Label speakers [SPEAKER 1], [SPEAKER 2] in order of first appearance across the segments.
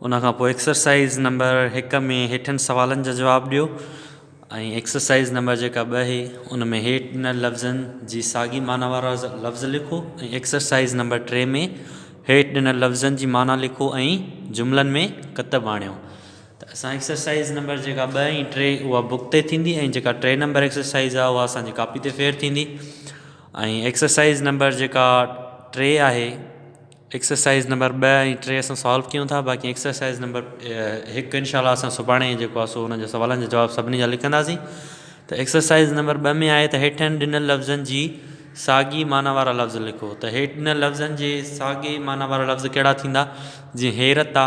[SPEAKER 1] ان کان پوء exercise number هڪ ۾ هيٺين سوالن جا جواب ڏيو ۽ ايڪسرسائيز نمبر جيڪا ٻه هي ان ۾ هيٺ ڏنل لفظن جي ساڳي معنيٰ وارا لفظ لکو ۽ ايڪسرسائيز نمبر ٽي ۾ هيٺ ڏنل لفظن جي معنيٰ لکو ۽ جملن ۾ ڪتب آڻيو ته اسان ايڪسرسائيز نمبر جيڪا ٻه ۽ ٽي اها بڪ تي ٿيندي ۽ جيڪا ٽي نمبر ايڪسرسائيز آهي اها اسانجي ڪاپي تي ڦير ٿيندي ۽ ايڪسرسائيز نمبر جيڪا ٽي آهي ايڪسرسائيز نمبر ٻه ۽ ٽي اسان سالو ڪيون ٿا باقي ايڪسرسائيز نمبر هڪ انشاء الله اسان سڀاڻي جيڪو آهي سو ان جا سوالن جا جواب سڀني جا لکنداسين ته ايڪسرسائيز نمبر ٻه ۾ آهي ته هيٺين ڏنل لفظن جي ساڳي معنيٰ وارا لفظ لکو ته هيٺ ڏنل لفظن جي ساڳي معنيٰ وارا لفظ ڪهڙا ٿيندا جيئن حيرت آ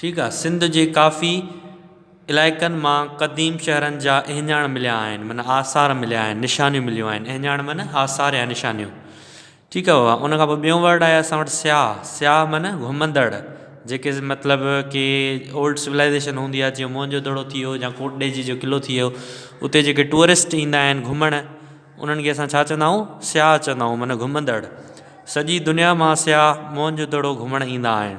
[SPEAKER 1] ٺيڪ آ سنڌ جي ڪافي علائقن مان قديم شهرن جا اهڃاڻ مليا آهن معنيٰ آثار مليا آهن نشانيون مليون آهن اهڃاڻ معنيٰ آثار يا نشانيون ٺيڪ آ بابا ان کان پوء ٻيون ورڊ آهي اسان وٽ سياح سياح معنيٰ گهمندڙ جيڪي مطلب ڪي اولڊ سولائزيشن هوندي آ جيئن موهن جو دڙو ٿي ويو يا ڪوٽ ڏيجي جو قلعو ٿي ويو اتي جيڪي ٽوئرسٽ ايندا آهن گهمڻ انهن کي اسان ڇا چوندا آهيون سياح چوندا آهيون معنيٰ گهمندڙ سڄي دنيا مان سياح موهن جو دڙو گهمڻ ايندا آهن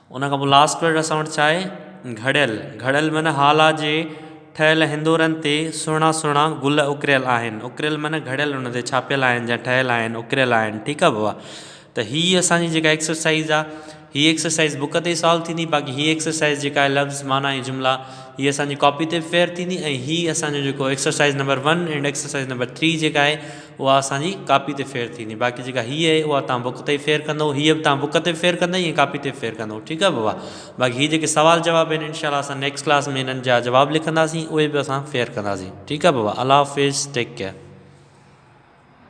[SPEAKER 1] ان کان پوء لاسٽ پيرڊ اسان وٽ ڇا آهي گهڙيل گهڙيل معنيٰ هالا جي ٺهيل هندورن تي سهڻا سهڻا گل اڪريل آهن اڪريل معنيٰ گهڙيل ان تي ڇاپيل آهن جا ٺهيل آهن اڪريل آهن ٺيڪ آهي بابا ته هي اسان جي جيڪا ايڪسرسائز آهي هي ايڪسرسائز بوڪ تي سالو ٿيندي باقي هي ايڪسرسائز جيڪا آهي لفظ معنيٰ ۽ جملا هي اسان جي ڪاپي تي فيئر ٿيندي ۽ هي اسان جو جيڪو exercise number one and exercise number three جيڪا آهي اها اسان جي ڪاپي تي ڦير ٿيندي باقي جيڪا هيء آهي اها توهان بڪ تي ئي ڦير ڪندئو هيء به توهان بڪ تي به ڦير ڪندئي ۽ ڪاپي تي به ڦير ڪندئو ٺيڪ آهي بابا باقي هي جيڪي سوال جواب آهن انشاء الله اسان نيڪسٽ ڪلاس ۾ هنن جا جواب لکنداسين اهي به اسان ڦير ڪنداسين ٺيڪ آهي بابا الله حافظ ٽيڪ ڪيئر